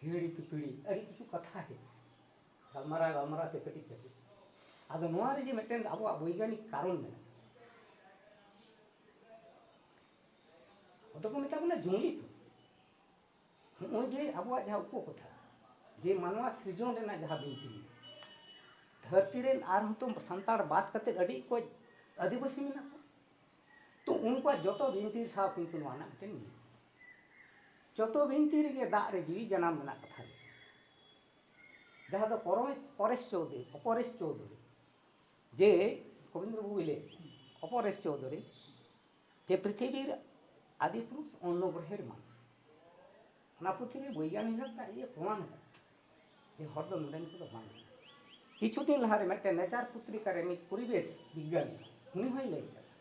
ᱦᱤᱦᱤᱲᱤ ᱯᱤᱯᱤᱲᱤ ᱟᱹᱰᱤ ᱠᱤᱪᱷᱩ ᱠᱟᱛᱷᱟ ᱜᱮ ᱜᱟᱞᱢᱟᱨᱟᱣ ᱜᱟᱞᱢᱟᱨᱟᱣ ᱛᱮ ᱠᱟᱹᱴᱤᱡ ᱠᱟᱹᱴᱤᱡ ᱟᱫᱚ ᱱᱚᱣᱟ ᱨᱮ ᱡᱮ ᱢᱤᱫᱴᱮᱱ ᱟᱵᱚᱣᱟᱜ ᱵᱳᱭᱜᱟᱱᱤᱠ ᱠᱟᱨᱚᱱ ᱢᱮᱱᱟᱜᱼᱟ ᱟᱫᱚ ᱠᱚ ᱢᱮᱛᱟ ᱵᱚᱱᱟ ᱡᱩᱢᱤᱫ ᱱᱚᱜᱼᱚᱭ ᱡᱮ ᱟᱵᱚᱣᱟᱜ ᱡᱟᱦᱟᱸ ᱩᱯᱚᱠᱚᱛᱷᱟ ᱡᱮ ᱢᱟᱱᱣᱟ ᱥᱤᱨᱡᱚᱱ ᱨᱮᱱᱟᱜ ᱡᱟᱦᱟᱸ ᱵᱤᱱᱛᱤ ᱫᱷᱟᱹᱨᱛᱤ ᱨᱮᱱ ᱟᱨᱦᱚᱸ ᱛᱚ ᱥᱟᱱᱛᱟᱲ ᱵᱟᱫ ᱠᱟᱛᱮ ᱟᱹᱰᱤ ᱠᱚ ᱟᱹᱫᱤᱵᱟᱹᱥᱤ ᱢᱮᱱᱟᱜ ᱠᱚᱣᱟ ᱛᱚ ᱩᱱᱠᱩᱣᱟᱜ ᱡᱚᱛᱚ ᱵᱤᱱᱛᱤ ᱥᱟᱶ ᱠᱤᱱᱛᱩ ᱱᱚᱣᱟ ᱨᱮᱱᱟᱜ ᱢᱤᱫᱴᱮᱱ ᱢᱤᱞ ᱡᱚᱛᱚ ᱵᱤᱱᱛᱤ ᱨᱮᱜᱮ ᱫᱟᱜ ᱨᱮ ᱡᱤᱣᱤ ᱡᱟᱱᱟᱢ ᱢᱮᱱᱟᱜ ᱠᱟᱛᱷᱟ ᱜᱮ ᱡᱟᱦᱟᱸ ᱫᱚ ᱯᱚᱨᱚᱢᱮᱥ ᱯᱚᱨᱮᱥ ᱪᱳᱣᱫᱷᱩᱨᱤ ᱚᱯᱚᱨᱮᱥ ᱪᱳᱣᱫᱷᱩᱨᱤ ᱡᱮ ᱜᱳᱵᱤᱱᱫᱨᱚ ᱵᱟᱵᱩᱭ ᱞᱟᱹᱭ ᱚᱯᱚᱨᱮᱥ ᱪᱳᱣᱫᱷᱩᱨᱤ ᱡᱮ ᱯᱨᱤᱛᱷᱤᱵᱤᱨ ᱟᱫᱤ ᱯᱩᱨᱩᱥ ᱚᱱᱱᱚ ᱜᱨᱚᱦᱮᱨ ᱢᱟᱱᱩᱥ ᱚᱱᱟ ᱯᱩᱛᱷᱤ ᱨᱮ ᱵᱳᱭᱜᱟᱱᱤᱠ ᱦᱟᱛᱟᱜ ᱤᱭᱟᱹ ᱯᱨᱚᱢᱟᱱ ᱟᱠᱟᱫᱟ ᱡᱮ ᱦᱚᱲ ᱫᱚ ᱱᱚᱰᱮᱱ ᱠᱚᱫᱚ ᱵᱟᱝ ᱠᱟᱱᱟ ᱠᱤᱪᱷᱩ ᱫᱤᱱ ᱞᱟᱦᱟᱨᱮ ᱢᱤᱫᱴᱮᱱ ᱱᱮᱪᱟᱨ ᱯᱚᱛᱨᱤᱠᱟ ᱨᱮ ᱢᱤᱫ ᱯᱚᱨᱤᱵᱮᱥ ᱵᱤᱜᱽᱜᱟᱱᱤ ᱩᱱᱤ ᱦᱚᱸᱭ ᱞᱟᱹᱭ ᱠᱟᱫᱟ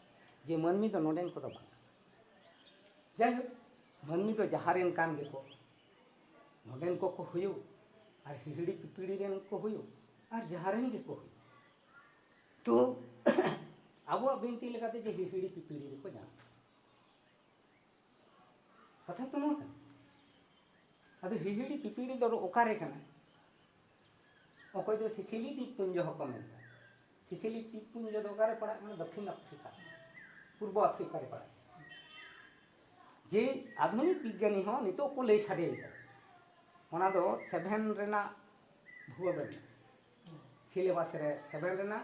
ᱡᱮ ᱢᱟᱹᱱᱢᱤ ᱫᱚ ᱱᱚᱰᱮᱱ ᱠᱚᱫᱚ ᱵᱟᱝ ᱠᱟᱱᱟ ᱡᱟᱭᱦᱳᱠ ᱢᱟᱹᱱᱢᱤ ᱫᱚ ᱡᱟᱦᱟᱸ ᱨᱮᱱ ᱠᱟᱱ ᱜᱮᱠᱚ ᱱᱚᱰᱮᱱ ᱠᱚᱠᱚ ᱦᱩᱭᱩᱜ ᱟᱨ ᱦᱤᱦᱤᱲᱤ ᱯᱤᱯᱤᱲᱤ ᱨᱮᱱ ᱠᱚ ᱦᱩᱭᱩᱜ ᱟᱨ ᱡᱟᱦᱟᱸ ᱨᱮᱱ ᱜᱮᱠᱚ ᱦᱩᱭᱩᱜ ᱛᱚ ᱟᱵᱚᱣᱟᱜ ᱵᱤᱱᱛᱤ ᱞᱮᱠᱟᱛᱮ ᱡᱮ ᱦᱤᱦᱤᱲᱤ ᱯᱤᱯᱤᱲᱤ ᱨᱮᱠᱚ ᱧᱟᱢ ᱠᱟᱛᱷᱟ ᱛᱚ ᱱᱚᱣᱟ ᱠᱟᱱᱟ ᱟᱫᱚ ᱦᱤᱦᱤᱲᱤ ᱯᱤᱯᱤᱲᱤ ᱫᱚ ᱚᱠᱟᱨᱮ ᱠᱟᱱᱟ ᱚᱠᱚᱭ ᱫᱚ ᱥᱤᱥᱤᱞᱤ ᱫᱤᱯᱯᱩᱧᱡᱚ ᱦᱚᱸᱠᱚ ᱢᱮᱱᱟ ᱥᱤᱥᱤᱞᱤ ᱫᱤᱯᱯᱩᱧᱡᱚ ᱫᱚ ᱚᱠᱟᱨᱮ ᱯᱟᱲᱟᱜ ᱠᱟᱱᱟ ᱫᱚᱠᱠᱷᱤᱱ ᱟᱯᱷᱨᱤᱠᱟ ᱯᱩᱨᱵᱚ ᱟᱯᱷᱨᱤᱠᱟ ᱨᱮ ᱯᱟᱲᱟᱜ ᱡᱮ ᱟᱫᱷᱩᱱᱤᱠ ᱵᱤᱜᱽᱜᱟᱱᱤ ᱦᱚᱸ ᱱᱤᱛᱚᱜ ᱠᱚ ᱞᱟᱹᱭ ᱥᱟᱰᱮᱭᱮᱫᱟ ᱚᱱᱟ ᱫᱚ ᱥᱮᱵᱷᱮᱱ ᱨᱮᱱᱟᱜ ᱵᱷᱩᱜᱳᱞ ᱨᱮ ᱢᱮᱱᱟᱜᱼᱟ ᱥᱤᱞᱮᱵᱟᱥ ᱨᱮ ᱥᱮᱵᱷᱮᱱ ᱨᱮᱱᱟᱜ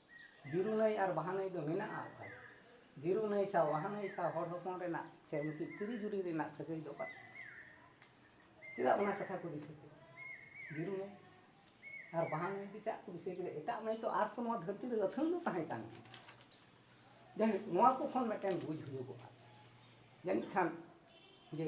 ᱵᱤᱨᱩ ᱱᱟᱹᱭ ᱟᱨ ᱵᱟᱦᱟ ᱱᱟᱹᱭ ᱫᱚ ᱢᱮᱱᱟᱜᱼᱟ ᱚᱠᱟᱨᱮ? ᱵᱤᱨᱩ ᱱᱟᱹᱭ ᱥᱟᱶ ᱵᱟᱦᱟ ᱱᱟᱹᱭ ᱥᱟᱶ ᱦᱚᱲ ᱦᱚᱯᱚᱱ ᱨᱮᱱᱟᱜ ᱥᱮ ᱢᱤᱫᱴᱤᱡ ᱛᱤᱨᱤ ᱡᱩᱨᱤ ᱨᱮᱱᱟᱜ ᱥᱟᱹᱜᱟᱹᱭ ᱫᱚ ᱚᱠᱟᱨᱮ? ᱪᱮᱫᱟᱜ ᱚᱱᱟ ᱠᱟᱛᱷᱟ ᱠᱚ ᱫᱤᱥᱟᱹ ᱠᱮᱫᱟ? ᱵᱤᱨᱩ ᱱᱟᱹᱭ ᱟᱨ ᱵᱟᱦᱟ ᱱᱟᱹᱭ ᱜᱮ ᱪᱮᱫᱟᱜ ᱠᱚ ᱫᱤᱥᱟᱹ ᱠᱮᱫᱟ? ᱮᱴᱟᱜ ᱱᱟᱹᱭ ᱛᱚ ᱟᱨ ᱛᱚ ᱱᱚᱣᱟ ᱫᱷᱟᱹᱨᱛᱤ ᱨᱮ ᱟᱹᱛᱷᱟᱹᱱ ᱫᱚ ᱛᱟᱦᱮᱸ ᱠᱟᱱ ᱜᱮᱭᱟ ᱡᱟᱭᱦᱳᱠ ᱱᱚᱣᱟ ᱠᱚ ᱠᱷᱚᱱ ᱢᱤᱫᱴᱮᱱ ᱵᱩᱡᱽ ᱦᱩᱭᱩᱜᱚᱜᱼᱟ ᱡᱟᱹᱱᱤᱡ ᱠᱷᱟᱱ ᱡᱮ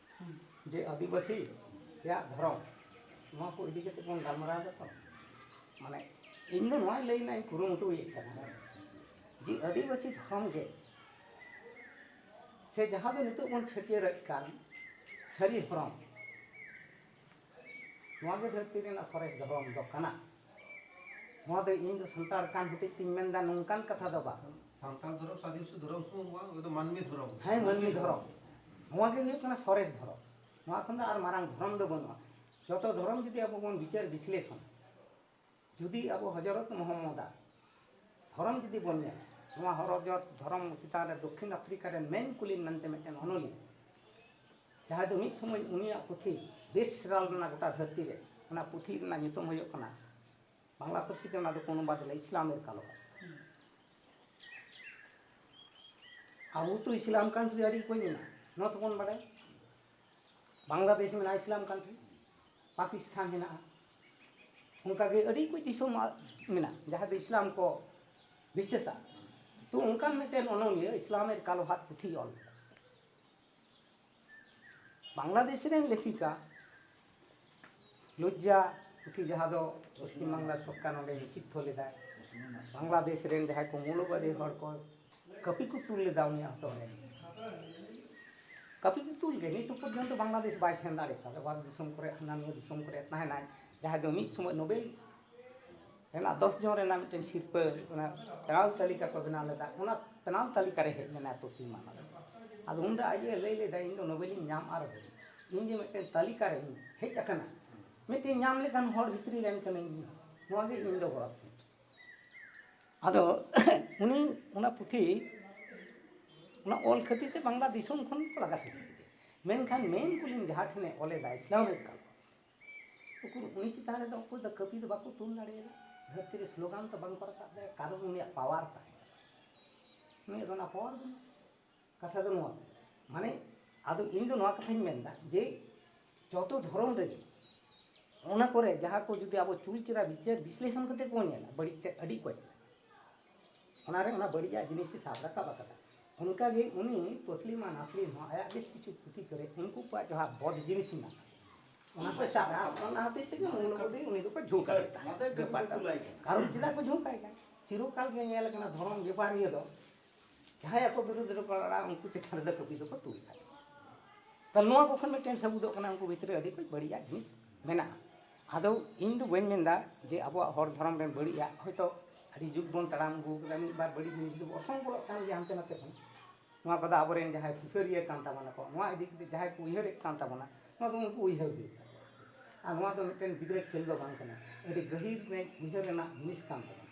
ᱡᱮ ᱟᱹᱫᱤᱵᱟᱹᱥᱤ ᱨᱮᱭᱟᱜ ᱫᱷᱚᱨᱚᱢ ᱱᱚᱣᱟ ᱠᱚ ᱤᱫᱤ ᱠᱟᱛᱮ ᱵᱚᱱ ᱜᱟᱞᱢᱟᱨᱟᱣ ᱮᱫᱟ ᱛᱚ ᱢᱟᱱᱮ ᱤᱧ ᱫᱚ ᱱᱚᱣᱟᱧ ᱞᱟᱹᱭ ᱨᱮᱱᱟᱜ ᱤᱧ ᱠᱩᱨᱩᱢᱩᱴᱩᱭᱮᱫ ᱠᱟᱱᱟ ᱡᱮ ᱟᱹᱫᱤᱵᱟᱹᱥᱤ ᱫᱷᱚᱨᱚᱢ ᱜᱮ ᱥᱮ ᱡᱟᱦᱟᱸ ᱫᱚ ᱱᱤᱛᱚᱜ ᱵᱚᱱ ᱪᱷᱟᱹᱴᱭᱟᱹᱨᱮᱫ ᱠᱟᱱ ᱥᱟᱹᱨᱤ ᱫᱷᱚᱨᱚᱢ ᱱᱚᱣᱟ ᱜᱮ ᱫᱷᱟᱹᱨᱛᱤ ᱨᱮᱱᱟᱜ ᱥᱚᱨᱮᱥ ᱫᱷᱚᱨᱚᱢ ᱫᱚ ᱠᱟᱱᱟ ᱱᱚᱣᱟ ᱫᱚ ᱤᱧ ᱫᱚ ᱥᱟᱱᱛᱟᱲ ᱠᱟᱱ ᱦᱚᱛᱮᱡ ᱛᱤᱧ ᱢᱮᱱ ᱫᱟ ᱱᱚᱝᱠᱟᱱ ᱠᱟᱛᱷᱟ ᱫᱚ ᱵᱟᱝ ᱥᱟᱱᱛᱟᱲ ᱫᱷᱚᱨᱚᱢ ᱥᱟᱫᱤ ᱥᱩ ᱫᱷᱚᱨᱚᱢ ᱥᱩ ᱱᱚᱣᱟ ᱫᱚ ᱢᱟᱹᱱᱢᱤ ᱫᱷᱚᱨᱚᱢ ᱦᱮᱸ ᱢᱟᱹᱱᱢᱤ ᱫᱷᱚᱨᱚᱢ ᱱᱚᱣᱟ ᱜᱮ ᱦᱩᱭᱩᱜ ᱠᱟᱱᱟ ᱥᱚᱨᱮᱥ ᱫᱷᱚᱨᱚᱢ ᱱᱚᱣᱟ ᱠᱷᱚᱱ ᱫᱚ ᱟᱨ ᱢᱟᱨᱟᱝ ᱫᱷᱚᱨᱚᱢ ᱫᱚ ᱵᱟᱹᱱᱩᱜᱼᱟ ᱡᱚᱛᱚ ᱫᱷᱚᱨᱚᱢ ᱡᱩᱫᱤ ᱟᱵᱚ ᱵᱚᱱ ᱵᱤᱪᱟᱹᱨ ᱵᱤᱥᱞᱮᱥᱚᱱᱟ ᱡᱩᱫᱤ ᱟᱵᱚ ᱦᱚᱡᱚᱨᱚᱛ ᱢᱚᱦᱚᱢᱢᱚᱫᱽ ᱟᱜ ᱫᱷᱚᱨᱚᱢ ᱡᱩᱫᱤ ᱵᱚᱱ ᱧᱮᱞᱟ ᱱᱚᱣᱟ ᱦᱚᱨᱚᱡᱚᱛ ᱫᱷᱚᱨᱚᱢ ᱪᱮᱛᱟᱱ ᱨᱮ ᱫᱚᱠᱠᱷᱤᱱ ᱟᱯᱷᱨᱤᱠᱟ ᱨᱮᱱ ᱢᱮᱱ ᱠᱩᱞᱤᱱ ᱢᱮᱱᱛᱮ ᱢᱤᱫᱴᱮᱱ ᱚᱱᱚᱞᱤᱭᱟᱹ ᱡᱟᱦᱟᱸᱭ ᱫᱚ ᱢᱤᱫ ᱥᱚᱢᱚᱭ ᱩᱱᱤᱭᱟᱜ ᱯᱩᱛᱷᱤ ᱵᱮᱥᱴ ᱥᱮᱞᱟᱨ ᱞᱮᱱᱟ ᱜᱚᱴᱟ ᱫᱷᱟᱹᱨᱛᱤ ᱨᱮ ᱚᱱᱟ ᱯᱩᱛᱷᱤ ᱨᱮᱱᱟᱜ ᱧᱩᱛᱩᱢ ᱦᱩᱭᱩᱜ ᱠᱟᱱᱟ ᱵᱟᱝᱞᱟ ᱯᱟᱹᱨᱥᱤ ᱛᱮ ᱚᱱᱟ ᱫᱚᱠᱚ ᱚᱱᱩᱵᱟᱫ ᱞᱮᱫᱟ ᱤᱥᱞᱟᱢᱮᱨ ᱠᱟᱞᱚ ᱟᱵᱚ ᱛᱚ ᱤᱥᱞᱟᱢ ᱠᱟᱱᱴᱨᱤ ᱟᱹᱰᱤ ᱚᱠᱚᱭ ᱢᱮᱱᱟᱜᱼᱟ ᱱᱚᱣᱟ ᱛᱚᱵᱚᱱ ᱵᱟᱰᱟᱭ ᱵᱟᱝᱞᱟᱫᱮᱥ ᱢᱮᱱᱟᱜᱼᱟ ᱤᱥᱞᱟᱢ ᱠᱟᱱᱴᱨᱤ ᱯᱟᱠᱤᱥᱛᱷᱟᱱ ᱦᱮᱱᱟᱜᱼᱟ ᱚᱱᱠᱟ ᱜᱮ ᱟᱹᱰᱤ ᱠᱚᱡ ᱫᱤᱥᱚᱢ ᱢᱮᱱᱟᱜᱼᱟ ᱡᱟᱦᱟᱸ ᱫᱚ ᱤᱥᱞᱟᱢ ᱠᱚ ᱵᱤᱥᱮᱥᱟ ᱛᱚ ᱚᱱᱠᱟᱱ ᱢᱤᱫᱴᱮᱱ ᱚᱱᱚᱞᱤᱭᱟᱹ ᱤᱥᱞᱟᱢᱮᱨ ᱠᱟᱞᱳ ᱦᱟᱛ ᱯᱩᱛᱷᱤᱭ ᱚᱞ ᱞᱮᱫᱟ ᱵᱟᱝᱞᱟᱫᱮᱥ ᱨᱮᱱ ᱞᱮᱠᱷᱤᱠᱟ ᱞᱚᱡᱽᱡᱟ ᱯᱩᱛᱷᱤ ᱡᱟᱦᱟᱸ ᱫᱚ ᱯᱚᱥᱪᱤᱢ ᱵᱟᱝᱞᱟ ᱥᱚᱨᱠᱟᱨ ᱱᱚᱰᱮ ᱱᱤᱥᱤᱫᱽᱫᱷᱚ ᱞᱮᱫᱟᱭ ᱵᱟᱝᱞᱟᱫᱮᱥ ᱨᱮᱱ ᱡᱟᱦᱟᱸᱭ ᱠᱚ ᱢᱳᱣᱞᱚᱵᱟᱫᱤ ᱦᱚᱲ ᱠᱚ ᱠᱟᱹᱯᱤ ᱠᱚ ᱛᱩᱞ ᱞᱮᱫᱟ ᱩᱱᱤᱭᱟᱜ ᱦᱚᱴᱚᱜ ᱨᱮ ᱠᱟᱹᱯᱤ ᱠᱚ ᱛᱩᱞ ᱜᱮ ᱱᱤᱛ ᱯᱚᱨᱡᱚᱱᱛᱚ ᱵᱟᱝᱞᱟᱫᱮᱥ ᱵᱟᱭ ᱥᱮᱱ ᱫᱟᱲᱮ ᱠᱟᱣᱫᱟ ᱵᱟᱨ ᱫᱤᱥᱚᱢ ᱠᱚᱨᱮ ᱦᱟᱱᱟ ᱱᱤᱭᱟᱹ ᱫᱤᱥᱚᱢ ᱠᱚᱨᱮ ᱛᱟᱦᱮᱱᱟᱭ ᱡᱟᱦᱟᱸᱭ ᱫᱚ ᱢᱤᱫ ᱥᱚᱢᱚᱭ ᱱᱳᱵᱮᱞ ᱨᱮᱱᱟᱜ ᱫᱚᱥ ᱡᱚᱱ ᱨᱮᱱᱟᱜ ᱢᱤᱫᱴᱮᱱ ᱥᱤᱨᱯᱟᱹ ᱚᱱᱟ ᱛᱟᱞ ᱛᱟᱹᱞᱤᱠᱟ ᱠᱚ ᱵᱮᱱᱟᱣ ᱞᱮᱫᱟ ᱚᱱᱟ ᱛᱟᱞ ᱛᱟᱹᱞᱤᱠᱟ ᱨᱮ ᱦᱮᱡ ᱞᱮᱱᱟᱭ ᱛᱚᱥᱤᱞ ᱢᱟᱦᱟᱞ ᱟᱫᱚ ᱩᱱᱨᱮ ᱟᱡ ᱮ ᱞᱟᱹᱭ ᱞᱮᱫᱟ ᱤᱧ ᱫᱚ ᱱᱳᱵᱮᱞᱤᱧ ᱧᱟᱢ ᱟᱨ ᱤᱧ ᱡᱮ ᱢᱤᱫᱴᱮᱱ ᱛᱟᱹᱞᱤᱠᱟ ᱨᱮ ᱦᱮᱡ ᱟᱠᱟᱱᱟ ᱢᱤᱫᱴᱮᱱ ᱧᱟᱢ ᱞᱮᱠᱟᱱ ᱦᱚᱲ ᱵᱷᱤᱛᱨᱤ ᱨᱮᱱ ᱠᱟᱹᱱᱟᱹᱧ ᱱᱚᱣᱟ ᱜᱮ ᱤᱧ ᱫᱚ ᱜᱚᱨᱚᱵᱽ ᱛᱤᱧ ᱟᱫᱚ ᱩᱱᱤ ᱚᱱᱟ ᱯᱩᱛᱷᱤ ᱚᱱᱟ ᱚᱞ ᱠᱷᱟᱹᱛᱤᱨ ᱛᱮ ᱵᱟᱝᱞᱟ ᱫᱤᱥᱚᱢ ᱠᱷᱚᱱ ᱠᱚ ᱞᱟᱜᱟ ᱥᱟᱹᱠᱷᱤ ᱠᱮᱫᱮᱭᱟ ᱢᱮᱱᱠᱷᱟᱱ ᱢᱮᱱ ᱠᱩᱞᱤᱧ ᱡᱟᱦᱟᱸ ᱴᱷᱮᱱᱮ ᱚᱞ ᱮᱫᱟ ᱤᱥᱞᱟᱢ ᱨᱮ ᱠᱟᱞ ᱩᱠᱩᱨ ᱩᱱᱤ ᱪᱮᱛᱟᱱ ᱨᱮᱫᱚ ᱚᱠᱚᱭ ᱫᱚ ᱠᱟᱹᱯᱤ ᱫᱚ ᱵᱟᱠᱚ ᱛᱩᱞ ᱫᱟᱲᱮᱭᱟᱫᱟ ᱫᱷᱟᱹᱨᱛᱤ ᱨᱮ ᱥᱞᱳᱜᱟᱱ ᱫᱚ ᱵᱟᱝᱠᱚ ᱨᱟᱠᱟᱵ ᱫᱟᱲᱮᱭᱟᱜᱼᱟ ᱠᱟᱨᱚᱱ ᱩᱱᱤᱭᱟᱜ ᱯᱟᱣᱟᱨ ᱛᱟᱦᱮᱸ ᱠᱟᱱᱟ ᱩᱱᱤᱭᱟᱜ ᱫᱚ ᱚᱱᱟ ᱯᱟᱣᱟᱨ ᱵᱟᱹᱱᱩᱜᱼᱟ ᱠᱟᱛᱷᱟ ᱫᱚ ᱱᱚᱣᱟ ᱢᱟᱱᱮ ᱟᱫᱚ ᱤᱧ ᱫᱚ ᱱᱚᱣᱟ ᱠᱟᱛᱷᱟᱧ ᱢᱮᱱᱫᱟ ᱡᱮ ᱡᱚᱛᱚ ᱫᱷᱚᱨᱚᱢ ᱨᱮᱜᱮ ᱚᱱᱟ ᱠᱚᱨᱮ ᱡᱟᱦᱟᱸ ᱠᱚ ᱡᱩᱫᱤ ᱟᱵᱚ ᱪᱩᱞ ᱪᱮᱨᱟ ᱵᱤᱪᱟᱹᱨ ᱵᱤᱥᱞᱮᱥᱚᱱ ᱠᱟᱛᱮ ᱵᱚᱱ ᱧᱮᱞᱟ ᱵᱟᱹᱲᱤᱡ ᱛᱮ ᱟᱹᱰᱤ ᱚᱠᱚᱡ ᱚᱱᱟᱨᱮ ᱚᱱᱟ ᱵᱟᱹᱲᱤᱡᱟᱜ ᱡᱤᱱᱤᱥᱮ ᱥᱟᱵ ᱨᱟᱠᱟᱵ ᱟᱠᱟᱫᱟ ᱚᱱᱠᱟᱜᱮ ᱩᱱᱤ ᱛᱚᱥᱞᱤᱢᱟ ᱱᱟᱥᱨᱤᱱ ᱦᱚᱸ ᱟᱭᱟᱜ ᱵᱮᱥ ᱠᱤᱪᱷᱩ ᱯᱩᱛᱷᱤ ᱠᱚᱨᱮ ᱩᱱᱠᱩ ᱠᱚᱣᱟᱜ ᱡᱟᱦᱟᱸ ᱵᱚᱫ ᱡᱤᱱᱤᱥ ᱢᱮᱱᱟᱜᱼᱟ ᱚᱱᱟ ᱠᱚ ᱥᱟᱵ ᱨᱟᱠᱟᱵ ᱚᱱᱟ ᱦᱚᱛᱮᱡ ᱛᱮᱜᱮ ᱢᱩᱞ ᱵᱩᱫᱷᱤ ᱩᱱᱤ ᱫᱚᱠᱚ ᱡᱷᱩᱸᱠᱟ ᱵᱮᱯᱟᱨ ᱠᱟᱨᱚᱱ ᱪᱮᱫᱟᱜ ᱠᱚ ᱡᱷᱩᱸᱠᱟᱭ ᱠᱟᱱᱟ ᱪᱤᱨᱚᱠᱟᱞ ᱜᱮ ᱧᱮᱞ ᱟᱠᱟᱱᱟ ᱫᱷᱚᱨᱚᱢ ᱵᱮᱯᱟᱨᱤᱭᱟᱹ ᱫᱚ ᱡᱟᱦᱟᱸᱭ ᱟᱠᱚ ᱵᱤᱨᱩᱫᱷ ᱨᱮᱠᱚ ᱨᱚᱲᱟ ᱩᱱᱠᱩ ᱪᱮᱛᱟᱱ ᱨᱮᱫᱚ ᱠᱟᱹᱯᱤ ᱫᱚᱠᱚ ᱛᱩᱞ ᱠᱟᱜ ᱛᱟᱦᱚᱞᱮ ᱱᱚᱣᱟ ᱠᱚ ᱠᱷᱚᱱ ᱢᱤᱫᱴᱮᱱ ᱥᱟᱹᱵᱩᱫᱚᱜ ᱠᱟᱱᱟ ᱩᱱᱠᱩ ᱵᱷᱤᱛᱨᱤ ᱟᱹᱰᱤ ᱠᱚ ᱵᱟᱹᱲᱤᱡᱟᱜ ᱡᱤᱱᱤᱥ ᱢᱮᱱᱟᱜᱼᱟ ᱟᱫᱚ ᱤᱧ ᱫᱚ ᱵᱟᱹᱧ ᱢᱮᱱᱫᱟ ᱡᱮ ᱟᱵᱚᱣᱟᱜ ᱦᱚᱲ ᱫᱷᱚᱨᱚᱢ ᱨᱮ ᱵᱟᱹᱲᱤᱡᱟᱜ ᱦᱚᱭᱛᱳ ᱟᱹᱰᱤ ᱡᱩᱜᱽ ᱵᱚᱱ ᱛᱟᱲᱟᱢ ᱟᱹᱜᱩ ᱠᱟᱫᱟ ᱢᱤᱫ ᱵᱟᱨ ᱵᱟᱹᱲᱤᱡ ᱡᱤᱱᱤᱥ ᱫᱚ ᱚᱥᱚᱝ ᱵᱚᱞᱚᱜ ᱠᱟᱱ ᱜᱮᱭᱟ ᱦᱟᱱᱛᱮ ᱱᱟᱛᱮ ᱠᱷᱚᱱ ᱱᱚᱣᱟ ᱠᱚᱫᱚ ᱟᱵᱚᱨᱮᱱ ᱡᱟᱦᱟᱸᱭ ᱥᱩᱥᱟᱹᱨᱤᱭᱟᱹ ᱠᱟᱱ ᱛᱟᱵᱚᱱᱟ ᱠᱚ ᱱᱚᱣᱟ ᱤᱫᱤ ᱠᱟᱛᱮ ᱡᱟᱦᱟᱸᱭ ᱠᱚ ᱩᱭᱦᱟᱹᱨᱮᱫ ᱠᱟᱱ ᱛᱟᱵᱚᱱᱟ ᱱᱚᱣᱟ ᱫᱚ ᱩᱱᱠᱩ ᱩᱭᱦᱟᱹᱨ ᱦᱩᱭᱩᱜ ᱛᱟᱠᱚᱣᱟ ᱟᱨ ᱱᱚᱣᱟ ᱫᱚ ᱢᱤᱫᱴᱮᱱ ᱜᱤᱫᱽᱨᱟᱹ ᱠᱷᱮᱞ ᱫᱚ ᱵᱟᱝ ᱠᱟᱱᱟ ᱟᱹᱰᱤ ᱜᱟᱹᱦᱤᱨ ᱩᱭᱦᱟᱹᱨ ᱨᱮᱱᱟᱜ ᱡᱤᱱᱤᱥ ᱠᱟᱱ ᱛᱟᱵᱚᱱᱟ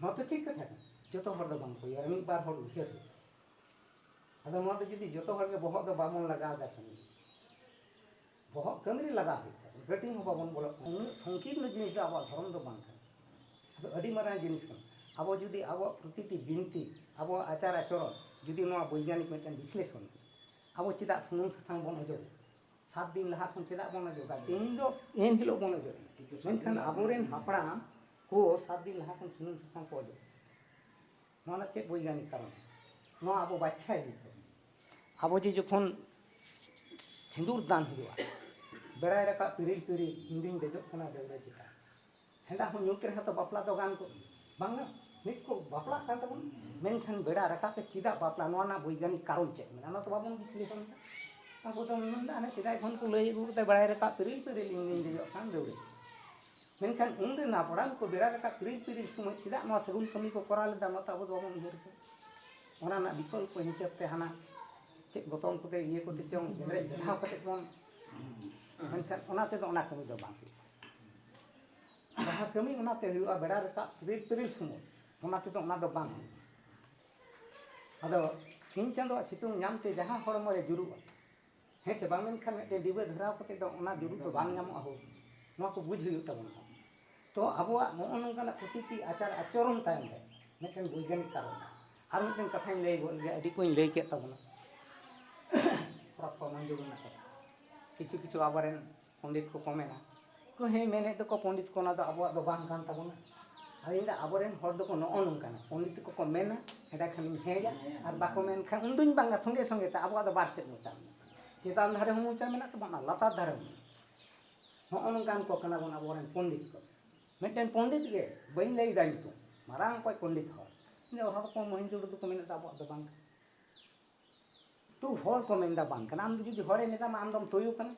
ᱱᱚᱣᱟ ᱫᱚ ᱴᱷᱤᱠ ᱠᱟᱛᱷᱟ ᱠᱟᱱᱟ ᱡᱚᱛᱚ ᱦᱚᱲ ᱫᱚ ᱵᱟᱝ ᱠᱚ ᱩᱭᱦᱟᱹᱨᱟ ᱢᱤᱫ ᱵᱟᱨ ᱦᱚᱲ ᱩᱭᱦᱟᱹᱨ ᱦᱩᱭᱩᱜᱼᱟ ᱟᱫᱚ ᱱᱚᱣᱟ ᱫᱚ ᱡᱩᱫᱤ ᱡᱚᱛᱚ ᱦᱚᱲ ᱜᱮ ᱵᱚᱦᱚᱜ ᱫᱚ ᱵᱟᱵᱚᱱ ᱞᱟᱜᱟᱣ ᱮᱫᱟ ᱠᱟᱹᱢᱤ ᱨᱮ ᱵᱚᱦᱚᱜ ᱠᱟᱹᱢᱤ ᱨᱮ ᱞᱟᱜᱟᱣ ᱦᱩᱭᱩᱜ ᱛᱟᱵᱚᱱᱟ ᱠᱟᱹᱴᱤᱡ ᱦᱚᱸ ᱵᱟᱵᱚᱱ ᱵᱚᱞᱚᱜ ᱠᱟᱱᱟ ᱩᱱᱟᱹᱜ ᱥᱚᱝᱠᱤᱨᱱᱚ ᱡᱤᱱᱤᱥ ᱫᱚ ᱟᱵᱚᱣᱟᱜ ᱫᱷᱚᱨᱚᱢ ᱫᱚ ᱵᱟᱝ ᱠᱟᱱᱟ ᱟᱫᱚ ᱟᱹᱰᱤ ᱢᱟᱨᱟᱝ ᱡᱤᱱᱤᱥ ᱠᱟᱱᱟ ᱟᱵᱚ ᱡᱩᱫᱤ ᱟᱵᱚᱣᱟᱜ ᱯᱨᱚᱛᱤᱴᱤ ᱵᱤᱱᱛᱤ ᱟᱵᱚᱣᱟᱜ ᱟᱪᱟᱨ ᱟᱪᱚᱨᱚᱱ ᱡᱩᱫᱤ ᱱᱚᱣᱟ ᱵᱳᱭᱜᱟᱱᱤᱠ ᱢᱤᱫᱴᱮᱱ ᱵᱤᱥᱞᱮᱥᱚᱱ ᱟᱵᱚ ᱪᱮᱫᱟᱜ ᱥᱩᱱᱩᱢ ᱥᱟᱥᱟᱝ ᱵᱚᱱ ᱚᱡᱚᱜᱮᱫᱟ ᱥᱟᱛ ᱫᱤᱱ ᱞᱟᱦᱟ ᱠᱷᱚᱱ ᱪᱮᱫᱟᱜ ᱵᱚᱱ ᱚᱡᱚᱜᱟ ᱛᱮᱦᱮᱧ ᱫᱚ ᱮᱱ ᱦᱤᱞᱳᱜ ᱵᱚᱱ ᱚᱡᱚᱜ ᱢᱮᱱᱠᱷᱟᱱ ᱟᱵᱚᱨᱮᱱ ᱦᱟᱯᱲᱟᱢ ᱠᱚ ᱥᱟᱛ ᱫᱤᱱ ᱞᱟᱦᱟ ᱠᱷᱚᱱ ᱥᱩᱱᱩᱢ ᱥᱟᱥᱟᱝ ᱠᱚ ᱚᱡᱚᱜ ᱱᱚᱣᱟ ᱨᱮᱱᱟᱜ ᱪᱮᱫ ᱵᱳᱭᱜᱟᱱᱤᱠ ᱠᱟᱨᱚᱱ ᱱᱚᱣᱟ ᱟᱵᱚ ᱵᱟᱠᱷᱟᱭ ᱦᱩᱭᱩᱜ ᱛᱟᱵᱚᱱᱟ ᱟᱵᱚ ᱡᱮ ᱡᱚᱠᱷᱚᱱ ᱥᱤᱸᱫᱩᱨ ᱫᱟᱱ ᱦᱩᱭᱩᱜᱼᱟ ᱵᱮᱲᱟᱭ ᱨᱟᱠᱟᱵ ᱯᱤᱨᱤᱞ ᱯᱤᱨᱤᱞ ᱤᱧ ᱫᱩᱧ ᱫᱮᱡᱚᱜ ᱠᱟᱱᱟ ᱫᱟᱹᱣᱲᱟᱹ ᱪᱮᱛᱟᱱ ᱦᱮᱸᱫᱟ ᱦᱚᱸ ᱧᱩᱛ ᱨᱮᱦᱚᱸ ᱛᱚ ᱵᱟᱯᱞᱟ ᱫᱚ ᱜᱟᱱ ᱠᱚᱜ ᱜᱮᱭᱟ ᱵᱟᱝᱟ ᱱᱤᱛ ᱠᱚ ᱵᱟᱯᱞᱟᱜ ᱠᱟᱱ ᱛᱟᱵᱚᱱᱟ ᱢᱮᱱᱠᱷᱟᱱ ᱵᱮᱲᱟ ᱨᱟᱠᱟᱵ ᱨᱮ ᱪᱮᱫᱟᱜ ᱵᱟᱯᱞᱟ ᱱᱚᱣᱟ ᱨᱮᱱᱟᱜ ᱵᱳᱭᱜᱟᱱᱤᱠ ᱠᱟᱨᱚᱱ ᱪᱮᱫ ᱢᱮᱱᱟᱜᱼᱟ ᱚᱱᱟ ᱛᱚ ᱵᱟᱵᱚᱱ ᱵᱤᱥᱞᱮᱥᱚᱱ ᱮᱫᱟ ᱟᱵᱚ ᱫᱚ ᱢᱮᱱᱫᱟ ᱦᱟᱱᱮ ᱥᱮᱫᱟᱭ ᱠᱷᱚᱱ ᱠᱚ ᱞᱟᱹᱭ ᱟᱹᱜᱩ ᱠᱟᱫᱟ ᱵᱮᱲᱟᱭ ᱨᱟᱠᱟᱵ ᱯᱤᱨᱤᱞ ᱯᱤᱨᱤᱞ ᱤᱧ ᱫᱩᱧ ᱫᱮᱡᱚᱜ ᱠᱟᱱ ᱫᱟᱹᱣᱲᱟᱹ ᱢᱮᱱᱠᱷᱟᱱ ᱩᱱ ᱨᱮᱱ ᱦᱟᱯᱲᱟᱢ ᱠᱚ ᱵᱮᱲᱟ ᱨᱟᱠᱟᱵ ᱯᱤᱨᱤᱞ ᱯᱤᱨᱤᱞ ᱥᱚᱢᱚᱭ ᱪᱮᱫᱟᱜ ᱱᱚᱣᱟ ᱥᱟᱹᱜᱩᱱ ᱠᱟᱹᱢᱤ ᱠᱚ ᱠᱚᱨᱟᱣ ᱞᱮᱫᱟ ᱚᱱᱟ ᱛᱚ ᱟᱵᱚ ᱫᱚ ᱵᱟᱵᱚᱱ ᱩᱭᱦᱟᱹᱨ ᱠᱟᱫᱟ ᱚᱱᱟ ᱨᱮᱱᱟᱜ ᱵᱤᱠᱚᱞᱯᱚ ᱦᱤᱥᱟᱹᱵ ᱛᱮ ᱦᱟᱱᱟ ᱪᱮᱫ ᱜᱚᱛᱚᱢ ᱠᱚᱛᱮ ᱤᱭᱟᱹ ᱠᱚᱛᱮ ᱪᱚᱝ ᱜᱮᱸᱫᱽᱨᱮᱡ ᱵᱮᱫᱷᱟᱣ ᱠᱟᱛᱮ ᱵᱚᱱ ᱢᱮᱱᱠᱷᱟᱱ ᱚᱱᱟ ᱛᱮᱫᱚ ᱚᱱᱟ ᱠᱟᱹᱢᱤ ᱫᱚ ᱵᱟᱝ ᱦᱩᱭᱩᱜᱼᱟ ᱡᱟᱦᱟᱸ ᱠᱟᱹᱢᱤ ᱚᱱᱟᱛᱮ ᱦᱩᱭᱩᱜᱼᱟ ᱵᱮᱲᱟ ᱨᱟᱠᱟᱵ ᱯᱤᱨᱤᱞ ᱯᱤᱨᱤᱞ ᱥᱚᱢᱚᱭ ᱚᱱᱟ ᱛᱮᱫᱚ ᱚᱱᱟ ᱫᱚ ᱵᱟᱝ ᱦᱩᱭᱩᱜᱼᱟ ᱟᱫᱚ ᱥᱤᱧ ᱪᱟᱸᱫᱳᱣᱟᱜ ᱥᱤᱛᱩᱝ ᱧᱟᱢ ᱛᱮ ᱡᱟᱦᱟᱸ ᱦᱚᱲᱢᱚ ᱨᱮ ᱡᱩᱨᱩᱜᱼᱟ ᱦᱮᱸ ᱥᱮ ᱵᱟᱝ ᱢᱮᱱᱠᱷᱟᱱ ᱢᱤᱫᱴᱮᱱ ᱰᱤᱵᱟᱹ ᱫᱷᱚᱨᱟᱣ ᱠᱟᱛᱮ ᱫᱚ ᱚᱱᱟ ᱡᱩᱨᱩᱜ ᱫᱚ ᱵᱟᱝ ᱧᱟᱢᱚᱜᱼᱟ ᱦᱳ ᱱᱚᱣᱟ ᱠᱚ ᱵᱩᱡᱽ ᱦᱩᱭᱩᱜ ᱛᱟᱵᱚᱱᱟ ᱛᱚ ᱟᱵᱚᱣᱟᱜ ᱱᱚᱜᱼᱚ ᱱᱚᱝᱠᱟᱱᱟᱜ ᱯᱨᱚᱛᱤᱴᱤ ᱟᱪᱟᱨ ᱟᱪᱚᱨᱚᱱ ᱛᱟᱭᱚᱢ ᱨᱮ ᱢᱤᱫᱴᱮᱱ ᱵᱳᱭᱜᱟᱱᱤᱠ ᱠᱟᱨᱚᱱ ᱟᱨ ᱢᱤᱫᱴᱮᱱ ᱠᱟᱛᱷᱟᱧ ᱞᱟᱹᱭ ᱜᱚᱫ ᱞᱮᱜᱮ ᱟᱹᱰᱤ ᱠᱚᱧ ᱞᱟᱹᱭ ᱠᱮᱫ ᱛᱟᱵᱚᱱᱟ ᱯᱨᱚᱛᱷᱚᱢ ᱡᱩᱜᱽ ᱨᱮᱱᱟᱜ ᱠᱟᱛᱷᱟ ᱠᱤᱪᱷᱩ ᱠᱤᱪᱷᱩ ᱟᱵᱚᱨᱮᱱ ᱯᱚᱸᱰᱤᱛ ᱠᱚ ᱠᱚ ᱢᱮᱱᱟ ᱠᱚ ᱦᱮᱸ ᱢᱮᱱᱮᱫ ᱫᱚᱠᱚ ᱯᱚᱸᱰᱤᱛ ᱠᱚ ᱚᱱᱟ ᱫᱚ ᱟᱵᱚᱣᱟᱜ ᱫᱚ ᱵᱟᱝ ᱠᱟᱱ ᱛᱟᱵᱚᱱᱟ ᱟᱫᱚ ᱤᱧ ᱫᱚ ᱟᱵᱚ ᱨᱮᱱ ᱦᱚᱲ ᱫᱚᱠᱚ ᱱᱚᱜᱼᱚ ᱱᱚᱝᱠᱟᱱᱟ ᱯᱚᱸᱰᱤᱛ ᱠᱚ ᱠᱚ ᱢᱮᱱᱟ ᱮᱸᱰᱮ ᱠᱷᱟᱱᱤᱧ ᱦᱮᱸᱭᱟ ᱟᱨ ᱵᱟᱠᱚ ᱢᱮᱱ ᱠᱷᱟᱱ ᱩᱱ ᱫᱩᱧ ᱵᱟᱝᱟ ᱥᱚᱸᱜᱮ ᱥᱚᱸᱜᱮ ᱛᱮ ᱟᱵᱚᱣᱟᱜ ᱫᱚ ᱵᱟᱨ ᱥᱮᱫ ᱢᱚᱪᱟ ᱢᱮᱱᱟᱜ ᱛᱟᱵᱚᱱᱟ ᱪᱮᱛᱟᱱ ᱫᱷᱟᱨᱮ ᱦᱚᱸ ᱢᱚᱪᱟ ᱢᱮᱱᱟᱜ ᱛᱟᱵᱚᱱᱟ ᱞᱟᱛᱟᱨ ᱫᱷᱟᱨᱮ ᱦᱚᱸ ᱢᱮᱱᱟᱜ ᱛᱟᱵᱚᱱᱟ ᱱᱚᱜᱼᱚ ᱱᱚᱝᱠᱟᱱ ᱠᱚ ᱠᱟᱱᱟ ᱵᱚᱱ ᱟᱵᱚ ᱨᱮᱱ ᱯᱚᱸᱰᱤᱛ ᱠᱚ ᱢᱤᱫᱴᱮᱱ ᱯᱚᱸᱰᱤᱛ ᱜᱮ ᱵᱟᱹᱧ ᱞᱟᱹᱭᱮᱫᱟ ᱧᱩᱛᱩᱢ ᱢᱟᱨᱟᱝ ᱚᱠᱚᱡ ᱯᱚᱸᱰᱤᱛ ᱦᱚᱲ ᱩᱱᱤ ᱦᱚᱲ ᱠᱚ ᱢᱚᱦᱮᱱᱡᱳ ᱫᱟᱲᱳ ᱫᱚᱠᱚ ᱢᱮᱱᱮᱫ ᱫᱚ ᱟᱵᱚᱣᱟᱜ ᱫᱚ ᱵᱟᱝ ᱠᱟᱱᱟ ᱛᱩ ᱦᱚᱲ ᱠᱚ ᱢᱮᱱᱫᱟ ᱵᱟᱝ ᱠᱟᱱᱟ ᱟᱢ ᱡᱩᱫᱤ ᱦᱚᱲᱮ ᱢᱮᱛᱟᱢᱟ ᱟᱢ ᱫᱚᱢ ᱛᱩᱭᱩ ᱠᱟᱱᱟ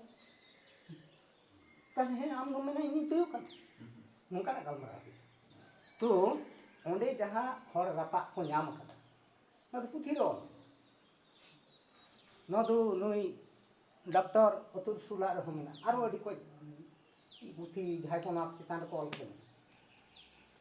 ᱛᱟᱦᱞᱮ ᱦᱮᱸ ᱟᱢ ᱫᱚᱢ ᱢᱮᱱᱟ ᱤᱧ ᱛᱩᱭᱩ ᱠᱟᱱᱟ ᱱᱚᱝᱠᱟᱱᱟᱜ ᱜᱟᱞᱢᱟᱨᱟᱣ ᱛᱚ ᱚᱸᱰᱮ ᱡᱟᱦᱟᱸ ᱦᱚᱲ ᱨᱟᱯᱟᱜ ᱠᱚ ᱧᱟᱢ ᱟᱠᱟᱫᱟ ᱱᱚᱣᱟ ᱫᱚ ᱯᱩᱛᱷᱤ ᱨᱚᱲ ᱱᱚᱣᱟ ᱫᱚ ᱱᱩᱭ ᱰᱚᱠᱴᱚᱨ ᱚᱛᱩᱞ ᱥᱩᱞᱟᱜ ᱨᱮᱦᱚᱸ ᱢᱮᱱᱟᱜᱼᱟ ᱟᱨᱚ ᱟᱹᱰᱤ ᱠᱚᱡ ᱯᱩᱛᱷᱤ ᱡᱟᱦᱟᱸᱭ ᱠᱚ ᱱᱚᱣᱟ ᱪᱮᱛᱟᱱ ᱨᱮᱠᱚ ᱚᱞ ᱠᱟᱫᱟ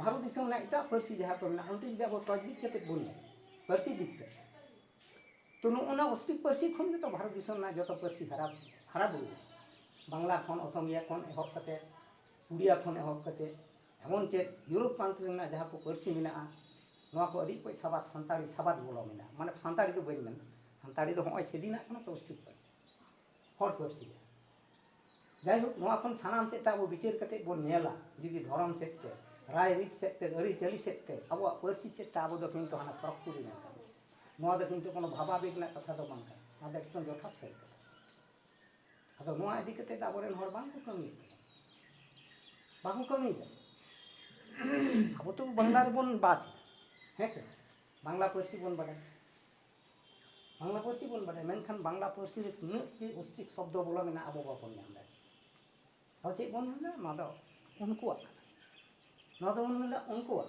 ᱵᱷᱟᱨᱚᱛ ᱫᱤᱥᱚᱢ ᱨᱮᱱᱟᱜ ᱮᱴᱟᱜ ᱯᱟᱹᱨᱥᱤ ᱡᱟᱦᱟᱸ ᱠᱚ ᱢᱮᱱᱟᱜᱼᱟ ᱚᱱᱛᱮ ᱡᱩᱫᱤ ᱟᱵᱚ ᱛᱚᱡᱽᱵᱤᱡ ᱠᱟᱛᱮ ᱵᱚᱱ ᱧᱮᱞᱟ ᱯᱟᱹᱨᱥᱤ ᱫᱤᱠ ᱥᱮᱫ ᱛᱚ ᱱᱚᱜᱼᱚ ᱱᱟ ᱚᱥᱴᱨᱤᱠ ᱯᱟᱹᱨᱥᱤ ᱠᱷᱚᱱ ᱜᱮᱛᱚ ᱵᱷᱟᱨᱚᱛ ᱫᱤᱥᱚᱢ ᱨᱮᱱᱟᱜ ᱡᱚᱛᱚ ᱯᱟᱹᱨᱥᱤ ᱦᱟᱨᱟ ᱦᱟᱨᱟ ᱵᱩᱨᱩ ᱵᱟᱝᱞᱟ ᱠᱷᱚᱱ ᱚᱥᱚᱢᱤᱭᱟ ᱠᱷᱚᱱ ᱮᱦᱚᱵ ᱠᱟᱛᱮ ᱩᱲᱤᱭᱟ ᱠᱷᱚᱱ ᱮᱦᱚᱵ ᱠᱟᱛᱮ ᱮᱢᱚᱱ ᱪᱮᱫ ᱤᱭᱳᱨᱳᱯ ᱯᱨᱟᱱᱛ ᱨᱮᱱᱟᱜ ᱡᱟᱦᱟᱸ ᱠᱚ ᱯᱟᱹᱨᱥᱤ ᱢᱮᱱᱟᱜᱼᱟ ᱱᱚᱣᱟ ᱠᱚ ᱟᱹᱰᱤ ᱚᱠᱚᱡ ᱥᱟᱵᱟᱫ ᱥᱟᱱᱛᱟᱲᱤ ᱥᱟᱵᱟᱫ ᱵᱚᱞᱚ ᱢᱮᱱᱟᱜᱼᱟ ᱢᱟᱱᱮ ᱥᱟᱱᱛᱟᱲᱤ ᱫᱚ ᱵᱟᱹᱧ ᱢᱮᱱᱟ ᱥᱟᱱᱛᱟᱲᱤ ᱫᱚ ᱦᱚᱸᱜᱼᱚᱭ ᱥᱮᱫᱤᱱᱟᱜ ᱠᱟᱱᱟ ᱛᱚ ᱚᱥᱴᱨᱤᱠ ᱯᱟᱹᱨᱥᱤ ᱦᱚᱲ ᱯᱟᱹᱨᱥᱤ ᱡᱟᱦᱟᱸ ᱡᱟᱭᱦᱳᱠ ᱱᱚᱣᱟ ᱠᱷᱚᱱ ᱥᱟᱱᱟᱢ ᱥᱮᱫ ᱛᱮ ᱟᱵᱚ ᱵᱤᱪᱟᱹᱨ ᱠᱟᱛᱮ ᱵᱚᱱ ᱧᱮᱞᱟ ᱡᱩᱫᱤ ᱫᱷᱚᱨᱚᱢ ᱥᱮᱫ ᱛᱮ ᱨᱟᱭ ᱨᱤᱛ ᱥᱮᱫ ᱛᱮ ᱟᱹᱨᱤ ᱪᱟᱹᱞᱤ ᱥᱮᱫ ᱛᱮ ᱟᱵᱚᱣᱟᱜ ᱯᱟᱹᱨᱥᱤ ᱥᱮᱫ ᱛᱮ ᱟᱵᱚ ᱫᱚ ᱠᱤᱱᱛᱩ ᱦᱟᱱᱟ ᱥᱚᱨᱚᱜᱽ ᱯᱩᱨᱤ ᱨᱮᱱ ᱠᱟᱱᱟ ᱱᱚᱣᱟ ᱫᱚ ᱠᱤᱱᱛᱩ ᱠᱳᱱᱳ ᱵᱷᱟᱵᱟ ᱵᱮᱜᱽ ᱨᱮᱱᱟᱜ ᱠᱟᱛᱷᱟ ᱫᱚ ᱵᱟᱝ ᱠᱟᱱᱟ ᱱᱚᱣᱟ ᱫᱚ ᱮᱠᱫᱚᱢ ᱡᱚᱛᱷᱟᱛ ᱥᱟᱹᱨᱤ ᱠᱟᱛᱷᱟ ᱟᱫᱚ ᱱᱚᱣᱟ ᱤᱫᱤ ᱠᱟᱛᱮ ᱫᱚ ᱟᱵᱚᱨᱮᱱ ᱦᱚᱲ ᱵᱟᱝ ᱠᱚ ᱠᱟᱹᱢᱤᱭᱮᱫ ᱠᱟᱱᱟ ᱵᱟᱠᱚ ᱠᱟᱹᱢᱤᱭᱮᱫᱟ ᱟᱵᱚ ᱛᱚ ᱵᱟᱝᱞᱟ ᱨᱮᱵᱚᱱ ᱵᱟᱥ ᱮᱫᱟ ᱦᱮᱸ ᱥᱮ ᱵᱟᱝᱞᱟ ᱯᱟᱹᱨᱥᱤ ᱵᱚᱱ ᱵᱟᱰᱟᱭᱟ ᱵᱟᱝᱞᱟ ᱯᱟᱹᱨᱥᱤ ᱵᱚᱱ ᱵᱟᱰᱟᱭᱟ ᱢᱮᱱᱠᱷᱟᱱ ᱵᱟᱝᱞᱟ ᱯᱟᱹᱨᱥᱤ ᱨᱮ ᱛᱤᱱᱟᱹᱜ ᱜᱮ ᱚᱥᱛᱤᱠ ᱥᱚᱵᱫᱚ ᱵᱚᱞᱚ ᱢᱮᱱᱟᱜᱼᱟ ᱟᱵᱚ ᱵᱟᱵᱚᱱ ᱧᱟᱢ ᱫᱟᱲᱮᱭᱟᱜ ᱟᱫᱚ ᱪᱮᱫ ᱵᱚᱱ ᱢᱮᱱᱫᱟ ᱱᱚᱣᱟ ᱫᱚ ᱩᱱᱠᱩᱣᱟᱜ ᱠᱟᱱᱟ ᱱᱚᱣᱟ ᱫᱚᱵᱚᱱ ᱢᱮᱱᱫᱟ ᱩᱱᱠᱩᱣᱟᱜ